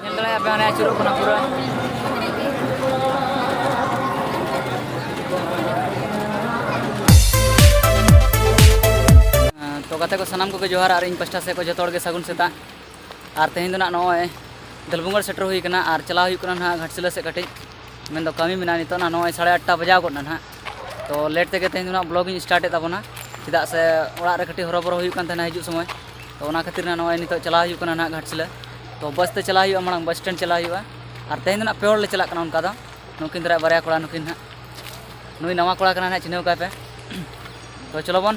ᱧᱮᱞ ᱫᱟᱲᱮᱭᱟᱜ ᱯᱮ ᱚᱱᱮ ᱟᱹᱪᱩᱨᱚᱜ ᱠᱟᱱᱟ ᱯᱩᱨᱟᱹ ᱛᱚ ᱜᱟᱛᱮ ᱠᱚ ᱥᱟᱱᱟᱢ ᱠᱚᱜᱮ ᱡᱚᱦᱟᱨ ᱟᱨ ᱤᱧ ᱯᱟᱥᱴᱟ ᱥᱮᱫ ᱠᱚ ᱡᱚᱛᱚ ᱦᱚᱲ ᱜᱮ ᱥᱟᱹᱜᱩᱱ ᱥᱮᱛᱟᱜ ᱟᱨ ᱛᱮᱦᱮᱧ ᱫᱚ ᱱᱟᱜ ᱱᱚᱜᱼᱚᱭ ᱫᱟᱹᱞᱵᱩᱝᱜᱟᱲ ᱥᱮᱴᱮᱨ ᱦᱩᱭ ᱠᱟᱱᱟ ᱟᱨ ᱪᱟᱞᱟᱣ ᱦᱩᱭᱩᱜ ᱠᱟᱱᱟ ᱱᱟᱦᱟᱜ ᱜᱷᱟᱴᱥᱤᱞᱟᱹ ᱥᱮᱫ ᱠᱟᱹᱴᱤᱡ ᱢᱮᱱ ᱫᱚ ᱠᱟᱹᱢᱤ ᱢᱮᱱᱟᱜᱼᱟ ᱱᱤᱛᱚᱜ ᱱᱟᱜ ᱱᱚᱜᱼᱚᱭ ᱥᱟᱲᱮ ᱟᱴᱴᱟ ᱵᱟᱡᱟᱣ ᱜᱚᱫ ᱱᱟ ᱱᱟᱦᱟᱜ ᱛᱚ ᱞᱮᱴ ᱛᱮᱜᱮ ᱛᱮᱦᱮᱧ ᱫᱚ ᱱᱟᱜ ᱵᱞᱚᱜ ᱤᱧ ᱥᱴᱟᱨᱴ ᱮᱫ ᱛᱟᱵᱚᱱᱟ ᱪᱮᱫᱟᱜ ᱥᱮ ᱚᱲᱟᱜ ᱨᱮ ᱠᱟᱹᱴᱤᱡ ᱦᱚᱨᱚᱵᱚᱨᱚ ᱦᱩᱭᱩᱜ ᱠᱟᱱ ᱛᱟᱦᱮᱱᱟ ᱦᱤᱡᱩᱜ ᱥᱚᱢᱚᱭ ᱛᱚ ᱚᱱᱟ ᱠᱷᱟᱹᱛᱤᱨ ᱱᱟᱜ ᱱᱚᱜᱼᱚᱭ ᱱᱤᱛᱚᱜ ᱪᱟᱞᱟᱣ ᱦᱩᱭᱩᱜ ᱠᱟᱱᱟ ᱱᱟᱜ ᱜᱷᱟᱴᱥᱤᱞᱟᱹ ᱛᱚ ᱵᱟᱥ ᱛᱮ ᱪᱟᱞᱟᱣ ᱦᱩᱭᱩᱜᱼᱟ ᱢᱟᱲᱟᱝ ᱵᱟᱥ ᱥᱴᱮᱱᱰ ᱪᱟᱞᱟᱣ ᱦᱩᱭᱩᱜᱼᱟ ᱟᱨ ᱛᱮᱦᱮᱧ ᱫᱚ ᱱᱟᱜ ᱯᱮ ᱦᱚᱲ ᱞᱮ ᱪᱟᱞᱟᱜ ᱠᱟᱱᱟ ᱚᱱᱠᱟ ᱫᱚ ᱱᱩᱠᱤᱱ ᱫᱟᱨᱟᱭ ᱵᱟᱨᱭᱟ ᱠᱚᱲᱟ ᱱᱩᱠᱤᱱ ᱱᱟᱜ ᱱᱩᱭ ᱱᱟᱣᱟ ᱠᱚᱲᱟ ᱠᱟᱱᱟᱭ ᱱᱟᱜ ᱪᱤᱱᱦᱟᱹᱣ ᱠᱟᱭ ᱯᱮ ᱛᱚ ᱪᱚᱞᱚ ᱵᱚᱱ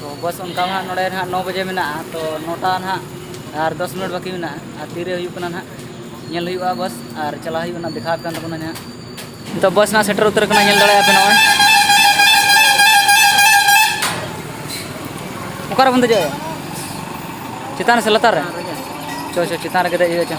ᱛᱚ ᱵᱟᱥ ᱚᱱᱠᱟ ᱢᱟ ᱱᱚᱰᱮ ᱱᱟᱦᱟᱜ ᱱᱚ ᱵᱟᱡᱮ ᱢᱮᱱᱟᱜᱼᱟ ᱛᱚ ᱱᱚᱴᱟ ᱱᱟᱦᱟᱜ ᱟᱨ ᱫᱚᱥ ᱢᱤᱱᱤᱴ ᱵᱟᱹᱠᱤ ᱢᱮᱱᱟᱜᱼᱟ ᱟᱨ ᱛᱤᱨᱮ ᱦᱩᱭᱩᱜ ᱠᱟᱱᱟ ᱱᱟᱦᱟᱜ ᱧᱮᱞ ᱦᱩᱭᱩᱜᱼᱟ ᱵᱟᱥ ᱟᱨ ᱪᱟᱞᱟᱜ ᱦᱩᱭᱩᱜᱼᱟ ᱱᱟᱦᱟᱜ ᱫᱮᱠᱷᱟᱣ ᱟᱯᱮ ᱠᱟᱱ ᱛᱟᱵᱚᱱᱟ ᱱᱟᱦᱟᱜ ᱱᱤᱛᱚᱜ ᱵᱟᱥ ᱱᱟᱦᱟᱜ ᱥᱮᱴᱮᱨ ᱩᱛᱟᱹᱨ ᱠᱟᱱᱟ ᱧᱮᱞ ᱫᱟᱲᱮᱭᱟᱜᱼᱟ ᱯᱮ ᱱᱚᱜᱼᱚᱭ ᱚᱠᱟᱨᱮ ᱵᱚᱱ ᱫᱮᱡᱚᱜᱼᱟ ᱪᱮᱛᱟᱱ ᱨᱮ ᱥᱮ ᱞᱟᱛᱟᱨ ᱨᱮ ᱪᱚ ᱪᱚ ᱪᱮᱛᱟᱱ ᱨᱮᱜᱮ ᱫᱮᱡ ᱦᱩᱭᱩᱜᱼᱟ ᱪᱚ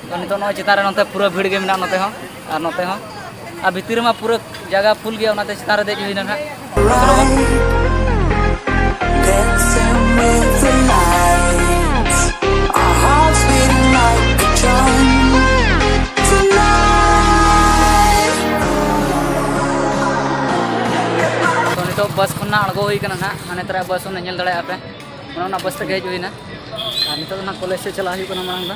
ᱛᱚ ᱱᱤᱛᱚᱜ ᱱᱚᱜᱼᱚᱭ ᱪᱮᱛᱟᱱ ᱨᱮ ᱱᱚᱛᱮ ᱯᱩᱨᱟᱹ ᱵᱷᱤᱲ ᱜᱮ ᱢᱮᱱᱟᱜᱼᱟ ᱱᱚᱛᱮ ᱦᱚᱸ ᱟᱨ ᱱᱚᱛᱮ ᱦᱚᱸ ᱟᱨ ᱵᱷᱤᱛᱤᱨ ᱨᱮᱢᱟ ᱯᱩᱨᱟᱹ ᱡᱟᱭᱜᱟ ᱯᱷᱩᱞ ᱜᱮᱭᱟ ᱚᱱᱟᱛᱮ ᱪᱮᱛᱟᱱ ᱨᱮ ᱫᱮᱡ ᱦᱩᱭᱱᱟ ᱱᱟᱦᱟᱜ ᱱᱤᱛᱚᱜ ᱵᱟᱥ ᱠᱷᱚᱱ ᱱᱟᱜ ᱟᱬᱜᱚ ᱦᱩᱭ ᱠᱟᱱᱟ ᱱᱟᱜ ᱦᱟᱱᱮ ᱛᱟᱨᱟ ᱵᱟᱥ ᱚᱱᱟ ᱧᱮᱞ ᱫᱟᱲᱮᱭᱟᱜᱼᱟ ᱯᱮ ᱚᱱᱟ ᱵᱟᱥ ᱛᱮᱜᱮ ᱦᱮᱡ ᱦᱩᱭᱱᱟ ᱟᱨ ᱱᱤᱛᱚᱜ ᱫᱚ ᱱᱟᱜ ᱠᱚᱞᱮᱡᱽ ᱥᱮᱫ ᱪᱟᱞᱟᱜ ᱦᱩᱭᱩᱜ ᱠᱟᱱᱟ ᱢᱟᱲᱟᱝ ᱫᱚ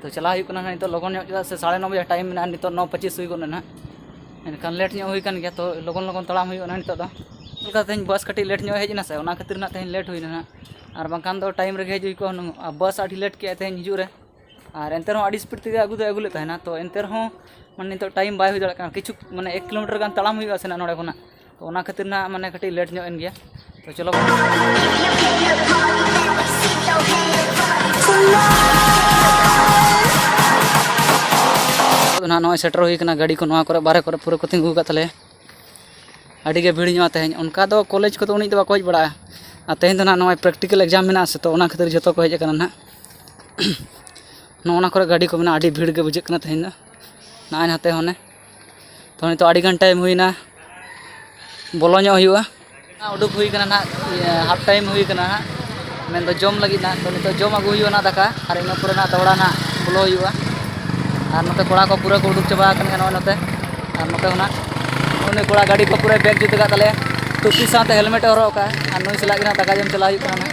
ᱛᱚ ᱪᱟᱞᱟᱣ ᱦᱩᱭᱩᱜ ᱠᱟᱱᱟ ᱱᱤᱛᱚᱜ ᱞᱚᱜᱚᱱ ᱧᱚᱜ ᱪᱮᱫᱟᱜ ᱥᱮ ᱥᱟᱲᱮ ᱱᱚ ᱵᱟᱡᱮ ᱴᱟᱭᱤᱢ ᱢᱮᱱᱟᱜᱼᱟ ᱱᱤᱛᱚᱜ ᱱᱚ ᱯᱚᱸᱪᱤᱥ ᱦᱩᱭ ᱜᱚᱫ ᱮᱱᱟ ᱮᱱᱠᱷᱟᱱ ᱞᱮᱴ ᱧᱚᱜ ᱦᱩᱭ ᱠᱟᱱ ᱜᱮᱭᱟ ᱛᱚ ᱞᱚᱜᱚᱱ ᱞᱚᱜᱚᱱ ᱛᱟᱲᱟᱢ ᱦᱩᱭᱩᱜᱼᱟ ᱱᱤᱛᱚᱜ ᱫᱚ ᱚᱱᱠᱟ ᱛᱮᱦᱮᱧ ᱵᱟᱥ ᱠᱟᱹᱴᱤᱡ ᱞᱮᱴ ᱧᱚᱜ ᱦᱮᱡ ᱮᱱᱟ ᱥᱮ ᱚᱱᱟ ᱠᱷᱟᱹᱛᱤᱨ ᱱᱟᱜ ᱛᱮᱦᱮᱧ ᱞᱮᱴ ᱦᱩᱭᱱᱟ ᱱᱟᱜ ᱟᱨ ᱵᱟᱝᱠᱷᱟᱱ ᱫᱚ ᱴᱟᱭᱤᱢ ᱨᱮᱜᱮ ᱦᱮᱡ ᱦᱩᱭ ᱠᱚᱜᱼᱟ ᱦᱩᱱᱟᱹᱝ ᱟᱨ ᱵᱟᱥ ᱟᱹᱰᱤ ᱞᱮᱴ ᱠᱮᱜᱼᱟᱭ ᱛᱮᱦᱮᱧ ᱦᱤᱡᱩᱜ ᱨᱮ ᱟᱨ ᱮᱱᱛᱮ ᱨᱮᱦᱚᱸ ᱟᱹᱰᱤ ᱥᱯᱤᱰ ᱛᱮᱜᱮ ᱟᱹᱜᱩ ᱫᱚᱭ ᱟᱹᱜᱩ ᱞᱮᱫ ᱛᱟᱦᱮᱱᱟ ᱛᱚ ᱮᱱᱛᱮ ᱨᱮᱦᱚᱸ ᱢᱟᱱᱮ ᱱᱤᱛᱚᱜ ᱴᱟᱭᱤᱢ ᱵᱟᱭ ᱦᱩᱭ ᱫᱟᱲᱮᱭᱟᱜ ᱠᱟᱱᱟ ᱠᱤᱪᱷᱩ ᱢᱟᱱᱮ ᱮᱠ ᱠᱤᱞᱳᱢᱤᱴᱟᱨ ᱜᱟᱱ ᱛᱟᱲᱟᱢ ᱦᱩᱭᱩᱜᱼᱟ ᱥᱮ ᱱᱟᱜ ᱱᱚᱰᱮ ᱠᱷᱚᱱᱟᱜ ᱛᱚ ᱚᱱᱟ ᱠᱷᱟᱹᱛᱤᱨ ᱱᱟᱜ ᱢᱟᱱᱮ ᱠᱟᱹᱴᱤᱡ ᱞᱮᱴ ᱧᱚᱜ ᱮᱱ ᱜᱮᱭᱟ ᱛᱚ ᱪᱚᱞᱚ ᱛᱚ ᱱᱟᱜ ᱱᱚᱜᱼᱚᱭ ᱥᱮᱴᱮᱨ ᱦᱩᱭ ᱠᱟᱱᱟ ᱜᱟᱹᱰᱤ ᱠᱚ ᱱᱚᱣᱟ ᱠᱚᱨᱮ ᱵᱟᱨᱦᱮ ᱠᱚᱨᱮ ᱯᱩᱨᱟᱹ ᱠᱚ ᱛᱤᱸᱜᱩ ᱟᱠᱟᱫ ᱛᱟᱞᱮᱭᱟ ᱟᱹᱰᱤ ᱜᱮ ᱵᱷᱤᱲ ᱧᱚᱜᱼᱟ ᱛᱮᱦᱮᱧ ᱚᱱᱠᱟ ᱫᱚ ᱠᱚᱞᱮᱡᱽ ᱠᱚᱫᱚ ᱩᱱᱤ ᱫᱚ ᱵᱟᱠᱚ ᱦᱮᱡ ᱵᱟᱲᱟᱜᱼᱟ ᱟᱨ ᱛᱮᱦᱮᱧ ᱫᱚ ᱱᱟᱜ ᱱᱚᱜᱼᱚᱭ ᱯᱨᱮᱠᱴᱤᱠᱮᱞ ᱮᱠᱡᱟᱢ ᱢᱮᱱᱟᱜᱼᱟ ᱥᱮ ᱛᱚ ᱚᱱᱟ ᱠᱷᱟᱹᱛᱤᱨ ᱡᱚᱛᱚ ᱠᱚ ᱦᱮᱡ ᱟᱠᱟᱱᱟ ᱱᱟᱜ ᱱᱚᱜᱼᱚ ᱱᱟ ᱠᱚᱨᱮ ᱜᱟᱹᱰᱤ ᱠᱚ ᱢᱮᱱᱟᱜᱼᱟ ᱟᱹᱰᱤ ᱵᱷᱤᱲ ᱜᱮ ᱵᱩᱡᱷᱟᱹᱜ ᱠᱟᱱᱟ ᱛᱮᱦᱮᱧ ᱫᱚ ᱱᱚᱜᱼᱚᱭ ᱱᱟᱛᱮ ᱦᱚᱸ ᱚᱱᱮ ᱛᱚ ᱱᱤᱛᱚᱜ ᱟᱹᱰᱤ ᱜᱟᱱ ᱴᱟᱭᱤᱢ ᱦᱩᱭᱱᱟ ᱵᱚᱞᱚ ᱧᱚᱜ ᱦᱩᱭᱩᱜᱼᱟ ᱩᱰᱩᱠ ᱦᱩᱭ ᱠᱟᱱᱟ ᱱᱟᱜ ᱦᱟᱯ ᱴᱟᱭᱤᱢ ᱦᱩᱭ ᱠᱟᱱᱟ ᱱᱟᱜ ᱢᱮᱱᱫᱚ ᱡᱚᱢ ᱞᱟᱹᱜᱤᱫ ᱱᱟᱜ ᱛᱚ ᱱᱤᱛᱚᱜ ᱡᱚᱢ ᱟᱹᱜᱩ ᱦᱩᱭᱩᱜᱼᱟ ᱱᱟᱜ ᱫᱟᱠᱟ ᱟᱨ ᱤᱱᱟᱹ ᱯᱚᱨᱮ ᱱᱟᱜ ᱫᱚᱦᱲᱟ ᱱᱟᱜ ᱵᱚᱞᱚ ᱦᱩᱭᱩᱜᱼᱟ ᱟᱨ ᱱᱚᱛᱮ ᱠᱚᱲᱟ ᱠᱚ ᱯᱩᱨᱟᱹ ᱠᱚ ᱩᱰᱩᱠ ᱪᱟᱵᱟ ᱟᱠᱟᱱᱟ ᱱᱚᱜᱼᱚᱭ ᱱᱚᱛᱮ ᱟᱨ ᱱᱚᱛᱮ ᱦᱚᱸ ᱱᱟᱜ ᱩᱱᱤ ᱠᱚᱲᱟ ᱜᱟᱹᱰᱤ ᱠᱚ ᱯᱩᱨᱟᱹ ᱵᱮᱜᱽ ᱡᱩᱛ ᱟᱠᱟᱫ ᱛᱟᱞᱮᱭᱟ ᱴᱩᱯᱤ ᱥᱟᱶᱛᱮ ᱦᱮᱞᱢᱮᱴ ᱮ ᱦᱚᱨᱚᱜ ᱟᱠᱟᱫᱼᱟ ᱟᱨ ᱱᱩᱭ ᱥᱟᱞᱟᱜ ᱜᱮ ᱱᱟᱜ ᱫᱟᱠᱟ ᱡᱚᱢ ᱪᱟᱞᱟᱜ ᱦᱩᱭᱩᱜ ᱠᱟᱱᱟ ᱱᱟᱜ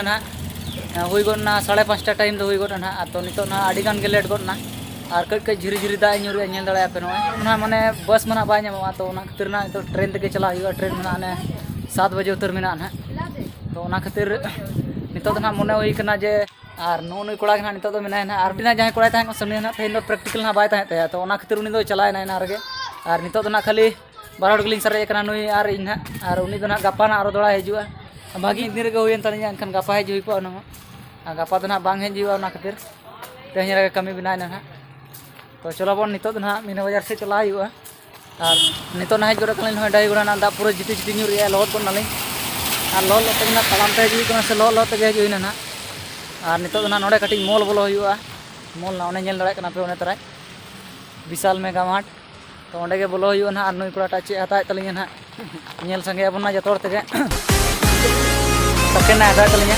ᱱᱟᱦᱟᱜ ᱦᱩᱭ ᱜᱚᱫ ᱮᱱᱟ ᱥᱟᱲᱮ ᱯᱟᱸᱪᱴᱟ ᱴᱟᱭᱤᱢ ᱫᱚ ᱦᱩᱭ ᱜᱚᱫ ᱮᱱᱟ ᱟᱫᱚ ᱱᱤᱛᱚᱜ ᱱᱟᱦᱟᱜ ᱟᱹᱰᱤ ᱜᱟᱱ ᱜᱮ ᱞᱮᱴ ᱜᱚᱫ ᱮᱱᱟ ᱟᱨ ᱠᱟᱹᱡ ᱠᱟᱹᱡ ᱡᱷᱤᱨᱤ ᱡᱷᱤᱨᱤ ᱫᱟᱜ ᱧᱩᱨᱩᱜᱼᱟ ᱧᱮᱞ ᱫᱟᱲᱮᱭᱟᱜᱼᱟ ᱯᱮ ᱱᱚᱜᱼᱚᱭ ᱚᱱᱟ ᱢᱟᱱᱮ ᱵᱟᱥ ᱢᱟ ᱱᱟᱦᱟᱜ ᱵᱟᱭ ᱧᱟᱢᱚᱜᱼᱟ ᱛᱚ ᱚᱱᱟ ᱠᱷᱟᱹᱛᱤᱨ ᱱᱟᱦᱟᱜ ᱱᱤᱛᱚᱜ ᱴᱨᱮᱱ ᱛᱮᱜᱮ ᱪᱟᱞᱟᱜ ᱦᱩᱭᱩᱜᱼᱟ ᱴᱨᱮᱱ ᱢᱮᱱᱟᱜᱼᱟ ᱚᱱᱮ ᱥᱟᱛ ᱵᱟᱡᱮ ᱩᱛᱟᱹᱨ ᱢᱮᱱᱟᱜᱼᱟ ᱱᱟᱦᱟᱜ ᱛᱚ ᱚᱱᱟ ᱠᱷᱟᱹᱛᱤᱨ ᱱᱤᱛᱚᱜ ᱫᱚ ᱱᱟᱦᱟᱜ ᱢᱚᱱᱮ ᱦᱩᱭ ᱠᱟᱱᱟ ᱡᱮ ᱟᱨ ᱱᱩᱜᱼᱩ ᱱᱩᱭ ᱠᱚᱲᱟ ᱜᱮ ᱱᱟᱦᱟᱜ ᱱᱤᱛᱚᱜ ᱫᱚ ᱢᱮᱱᱟᱭᱟ ᱱᱟᱦᱟᱜ ᱟᱨ ᱢᱤᱫᱴᱮᱱ ᱡᱟᱦᱟᱸᱭ ᱠᱚᱲᱟᱭ ᱛᱟᱦᱮᱸ ᱠᱟᱱᱟ ᱥᱟᱹᱢᱤᱭᱟ ᱱᱟᱦᱟᱜ ᱛᱮᱦᱮᱧ ᱫᱚ ᱯᱨᱮᱠᱴᱤᱠᱮᱞ ᱱᱟᱦᱟᱜ ᱵᱟᱭ ᱛᱟᱦᱮᱸᱫ ᱛᱟᱭᱟ ᱛᱚ ᱚᱱᱟ ᱠᱷᱟᱹᱛᱤᱨ ᱩᱱᱤ ᱫᱚᱭ ᱪᱟᱞᱟᱣᱮᱱᱟ ᱮᱱᱟᱝ ᱨᱮᱜᱮ ᱟᱨ ᱱᱤᱛᱚᱜ ᱫᱚ ᱱᱟᱦᱟᱜ ᱠᱷᱟᱹᱞᱤ ᱵᱟᱨ ᱦᱚᱲ ᱜᱮᱞᱤᱧ ᱥᱟᱨᱮᱡ ᱟᱠᱟᱱᱟ ᱱᱩᱭ ᱟᱨ ᱤᱧ ᱦᱟᱸᱜ ᱟᱨ ᱩᱱᱤ ᱫᱚ ᱦᱟᱸᱜ ᱜᱟᱯᱟ ᱦᱟᱸᱜ ᱟᱨᱚ ᱫᱚᱲᱟᱭ ᱦᱤᱡᱩᱜᱼᱟ ᱵᱷᱟᱹᱜᱤ ᱢᱤᱫ ᱫᱤᱱ ᱨᱮᱜᱮ ᱦᱩᱭᱮᱱ ᱛᱟᱹᱞᱤᱧᱟ ᱮᱱᱠᱷᱟᱱ ᱜᱟᱯᱟ ᱦᱮᱡ ᱦᱩᱭ ᱠᱚᱜᱼᱟ ᱚᱱᱟ ᱦᱚᱸ ᱟᱨ ᱜᱟᱯᱟ ᱫᱚ ᱦᱟᱸᱜ ᱵᱟᱝ ᱦᱮᱡ ᱦᱩᱭᱩᱜᱼᱟ ᱚᱱᱟ ᱠᱷᱟᱹᱛᱤᱨ ᱛᱮᱦᱮᱧ ᱨᱮᱜᱮ ᱠᱟᱹᱢᱤ ᱵᱮᱱᱟᱣᱮᱱᱟ ᱦᱟᱸᱜ ᱛᱚ ᱪᱚᱞᱚ ᱵᱚᱱ ᱱᱤᱛᱚᱜ ᱫᱚ ᱦᱟᱸᱜ ᱢᱤᱱᱟ ᱵᱟᱡᱟᱨ ᱥᱮᱫ ᱪᱟᱞᱟᱣ ᱦᱩᱭᱩᱜᱼᱟ ᱟᱨ ᱱᱤᱛᱚᱜ ᱱᱟᱦᱟᱜ ᱦᱮᱡ ᱜᱚᱫ ᱠᱟᱱᱟᱞᱤᱧ ᱱᱚᱜᱼᱚᱭ ᱰᱟᱹᱦᱤ ᱜᱚᱲᱟ ᱨᱮᱱᱟᱜ ᱫᱟᱜ ᱯᱩᱨᱟᱹ ᱡᱤᱴᱤ ᱡᱤᱴᱤ ᱧᱩᱨ ᱮᱫᱟᱭ ᱞᱚᱦᱚᱫ ᱜᱚᱫ ᱱᱟᱞᱤᱧ ᱟᱨ ᱞᱚᱦᱚᱫ ᱞᱚᱦᱚᱫ ᱛᱮᱜᱮ ᱦᱟᱸᱜ ᱛᱟᱲᱟᱢ ᱛᱮ ᱦᱤᱡᱩᱜ ᱠᱟᱱᱟ ᱥᱮ ᱞᱚᱦᱚᱫ ᱞᱚᱦᱚᱫ ᱛᱮᱜᱮ ᱦᱮᱡ ᱦᱩᱭᱱᱟ ᱦᱟᱸᱜ ᱟᱨ ᱱᱤᱛᱚᱜ ᱫᱚ ᱦᱟᱸᱜ ᱱᱚᱰᱮ ᱠᱟᱹᱴᱤᱡ ᱢᱚᱞ ᱵᱚᱞᱚ ᱦᱩᱭᱩᱜᱼᱟ ᱢᱚᱞ ᱦᱟᱸᱜ ᱚᱱᱮ ᱧᱮᱞ ᱫᱟᱲᱮᱭᱟᱜ ᱠᱟᱱᱟ ᱯᱮ ᱚᱱᱮ ᱛᱟᱨᱟᱭ ᱵᱤᱥᱟᱞ ᱢᱮᱜᱟ ᱢᱟᱨᱴ ᱛᱚ ᱚᱸᱰᱮ ᱜᱮ ᱵᱚᱞᱚ ᱦᱩᱭᱩᱜᱼᱟ ᱱᱟᱦᱟᱜ ᱟᱨ ᱱᱩᱭ ᱠᱚᱲᱟᱴᱟᱜ ᱪᱮᱫ ᱦᱟᱛᱟᱣᱮᱫ ᱛᱟᱹᱞᱤᱧᱟ ᱱᱟᱦᱟᱜ ᱧᱮᱞ ᱥᱟᱸᱜᱮ ᱟᱵᱚᱱ ᱱᱟᱦᱟᱜ ᱡᱚᱛᱚ ᱦᱚᱲ ᱛᱮᱜᱮ ᱥᱟᱠᱮᱱ ᱱᱟᱦᱟᱜ ᱦᱟᱛᱟᱣᱮᱫ ᱛᱟᱹᱞᱤᱧᱟ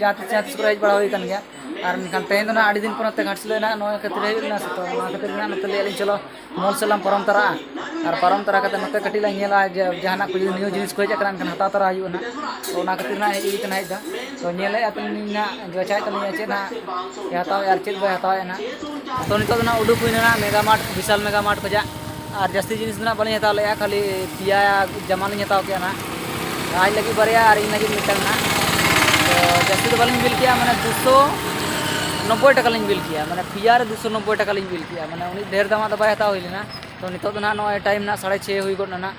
ᱡᱟᱦᱟᱸ ᱛᱤᱥ ᱡᱟᱦᱟᱸ ᱛᱤᱥ ᱠᱚᱨᱮ ᱦᱮᱡ ᱵᱟᱲᱟ ᱦᱩᱭ ᱟᱠᱟᱱ ᱜᱮᱭᱟ ᱟᱨ ᱢᱮᱱᱠᱷᱟᱱ ᱛᱮᱦᱮᱧ ᱫᱚ ᱱᱟᱦᱟᱜ ᱟᱹᱰᱤ ᱫᱤᱱ ᱯᱚᱨᱮᱛᱮ ᱜᱷᱟᱴᱥᱤᱞᱟᱹ ᱱᱟᱦᱟᱜ ᱱᱚᱣᱟ ᱠᱷᱟᱹᱛᱤᱨ ᱦᱮᱡ ᱞᱮᱱᱟ ᱥᱮ ᱛᱚ ᱚᱱᱟ ᱠᱷᱟᱹᱛᱤᱨ ᱱᱟᱦᱟᱜ ᱱᱚᱛᱮ ᱞᱟᱹᱭ ᱟᱹᱞᱤᱧ ᱪᱚᱞᱚ ᱢᱚᱞ ᱥᱮᱫ ᱞᱟᱝ ᱯᱟᱨᱚᱢ ᱛᱟᱨᱟᱜᱼᱟ ᱟᱨ ᱯᱟᱨᱚᱢ ᱛᱟᱨᱟ ᱠᱟᱛᱮ ᱱᱚᱛᱮ ᱠᱟᱹᱴᱤᱡ ᱞᱟᱝ ᱧᱮᱞᱟ ᱡᱮ ᱡᱟᱦᱟᱱᱟᱜ ᱠᱚ ᱡᱩᱫᱤ ᱱᱤᱭᱩ ᱡᱤᱱᱤᱥ ᱠᱚ ᱦᱮᱡ ᱟᱠᱟᱱᱟ ᱮᱱᱠᱷᱟᱱ ᱦᱟᱛᱟᱣ ᱛᱟᱨᱟ ᱦᱩᱭᱩᱜᱼᱟ ᱱᱟᱦᱟᱜ ᱛᱚ ᱚᱱᱟ ᱠᱷᱟᱹᱛᱤᱨ ᱱᱟᱦᱟᱜ ᱦᱮᱡ ᱦᱩᱭ ᱟᱠᱟᱱᱟ ᱦᱮᱡ ᱫᱚ ᱛᱚ ᱧᱮᱞᱮᱫᱼᱟ ᱛᱟᱹᱞᱤᱧ ᱱᱟᱦᱟᱜ ᱵᱟᱪᱷᱟᱣᱮᱫ ᱛᱟᱹᱞᱤᱧᱟ ᱪᱮᱫ ᱱᱟᱦᱟᱜ ᱦᱟᱛᱟᱣᱮᱫᱼᱟ ᱟᱨ ᱪᱮᱫ ᱵᱟᱭ ᱦᱟᱛᱟᱣᱮᱫᱼᱟ ᱱᱟᱦᱟᱜ ᱛᱚ ᱱᱤᱛᱚᱜ ᱫᱚ ᱱᱟᱦᱟᱜ ᱩᱰᱩᱠ ᱦᱩᱭᱮᱱᱟ ᱱᱟᱦᱟᱜ ᱢᱮᱜᱟ ᱢᱟᱨᱴ ᱵᱤᱥᱟᱞ ᱢᱮᱜᱟ ᱢᱟᱨᱴ ᱠᱷᱚᱱᱟᱜ ᱟᱨ ᱡᱟᱹᱥᱛᱤ ᱡᱤᱱᱤᱥ ᱫᱚ ᱱᱟᱜ ᱵᱟᱹᱞᱤᱧ ᱦᱟᱛᱟᱣ ᱞᱮᱜᱼᱟ ᱠᱷᱟᱹᱞᱤ ᱯᱮᱭᱟ ᱡᱟᱢᱟ ᱞᱤᱧ ᱦᱟᱛᱟᱣ ᱠᱮᱜᱼᱟ ᱱᱟᱜ ᱟᱡ ᱞᱟᱹᱜᱤᱫ ᱵᱟᱨᱭᱟ ᱟᱨ ᱤᱧ ᱞᱟᱹᱜᱤᱫ ᱢᱤᱫᱴᱟᱝ ᱱᱟᱜ ᱛᱚ ᱡᱟᱹᱥᱛᱤ ᱫᱚ ᱵᱟᱹᱞᱤᱧ ᱵᱤᱞ ᱠᱮᱜᱼᱟ ᱢᱟᱱᱮ ᱫᱩᱥᱚ ᱱᱚᱵᱽᱵᱳᱭ ᱴᱟᱠᱟ ᱞᱤᱧ ᱵᱤᱞ ᱠᱮᱜᱼᱟ ᱢᱟᱱᱮ ᱯᱮᱭᱟ ᱨᱮ ᱫᱩᱥᱚ ᱱᱚᱵᱽᱵᱳᱭ ᱴᱟᱠᱟ ᱞᱤᱧ ᱵᱤᱞ ᱠᱮᱜᱼᱟ ᱢᱟᱱᱮ ᱩᱱᱤ ᱰᱷᱮᱨ ᱫᱟᱢᱟᱜ ᱫᱚ ᱵᱟᱭ ᱦᱟᱛᱟᱣ ᱦᱩᱭ ᱞᱮᱱᱟ ᱛᱚ ᱱᱤᱛᱚᱜ ᱫᱚ ᱱᱟᱜ ᱱᱚᱜᱼᱚᱭ ᱴᱟᱭᱤᱢ ᱱᱟᱜ ᱥᱟᱲᱮ ᱪᱷᱚᱭ ᱦᱩᱭ ᱜᱚᱫ ᱱᱟ ᱱᱟᱜ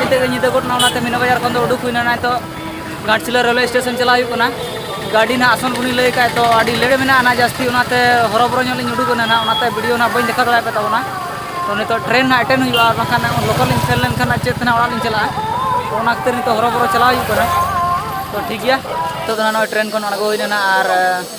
ᱱᱤᱛᱚᱜ ᱧᱤᱫᱟᱹ ᱜᱚᱫ ᱮᱱᱟ ᱚᱱᱟᱛᱮ ᱢᱤᱱᱟ ᱵᱟᱡᱟᱨ ᱠᱷᱚᱱ ᱫᱚ ᱩᱰᱩᱠ ᱦᱩᱭᱱᱟ ᱱᱤᱛᱚᱜ ᱜᱷᱟᱴᱥᱤᱞᱟᱹ ᱨᱮᱞᱣᱮ ᱥᱴᱮᱥᱚᱱ ᱪᱟᱞᱟᱜ ᱦᱩᱭᱩᱜ ᱠᱟᱱᱟ ᱜᱟᱹᱰᱤ ᱱᱟᱜ ᱟᱥᱚᱱ ᱵᱚᱱᱤ ᱞᱟᱹᱭ ᱠᱷᱟᱡ ᱛᱚ ᱟᱹᱰᱤ ᱞᱮᱴ ᱢᱮᱱᱟᱜᱼᱟ ᱱᱟᱜ ᱡᱟᱹᱥᱛᱤ ᱚᱱᱟᱛᱮ ᱦᱚᱨᱚᱵᱚᱨᱚ ᱧᱚᱜ ᱞᱤᱧ ᱩᱰᱩᱠ ᱮᱱᱟ ᱱᱟᱜ ᱚᱱᱟᱛᱮ ᱵᱷᱤᱰᱤᱭᱳ ᱱᱟᱜ ᱵᱟᱹᱧ ᱫᱮᱠᱷᱟᱣ ᱫᱟᱲᱮᱭᱟᱯᱮ ᱛᱟᱵᱚᱱᱟ ᱛᱚ ᱱᱤᱛᱚᱜ ᱴᱨᱮᱱ ᱱᱟᱜ ᱮᱴᱮᱱ ᱦᱩᱭᱩᱜᱼᱟ ᱟᱨ ᱵᱟᱝᱠᱷᱟᱱ ᱞᱚᱠᱟᱞ ᱞᱤᱧ ᱥᱮᱱ ᱞᱮᱱᱠᱷᱟᱱ ᱱᱟᱜ ᱪᱮᱫ ᱛᱮ ᱱᱟᱜ ᱚᱲᱟᱜ ᱞᱤᱧ ᱪᱟᱞᱟᱜᱼᱟ ᱛᱚ ᱚᱱᱟ ᱠᱷᱟᱹᱛᱤᱨ ᱱᱤᱛᱚᱜ ᱦᱚᱨᱚᱵᱚᱨᱚ ᱪᱟᱞᱟᱣ ᱦᱩᱭᱩᱜ ᱠᱟᱱᱟ ᱛᱚ ᱴᱷᱤᱠ ᱜᱮᱭᱟ ᱱᱤᱛᱚᱜ ᱫᱚ ᱱᱟᱜ ᱱᱚᱜᱼᱚᱭ ᱴᱨᱮᱱ ᱠᱷᱚᱱ ᱟᱬᱜᱚ ᱦᱩᱭᱱᱟ ᱱᱟᱜ ᱟᱨ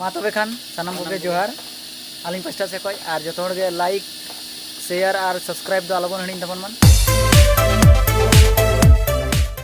ᱢᱟ ᱛᱚᱵᱮ ᱠᱷᱟᱱ ᱥᱟᱱᱟᱢ ᱠᱚᱜᱮ ᱡᱚᱦᱟᱨ ᱟᱹᱞᱤᱧ ᱯᱟᱥᱴᱟ ᱥᱮᱫ ᱠᱷᱚᱱ ᱟᱨ ᱡᱚᱛᱚ ᱦᱚᱲ ᱜᱮ ᱞᱟᱭᱤᱠ ᱥᱮᱭᱟᱨ ᱟᱨ ᱥᱟᱵᱥᱠᱨᱟᱭᱤᱵ ᱫᱚ ᱟᱞᱚᱵᱚᱱ ᱦᱤᱲᱤᱧ ᱛᱟᱵᱚᱱ ᱢᱟ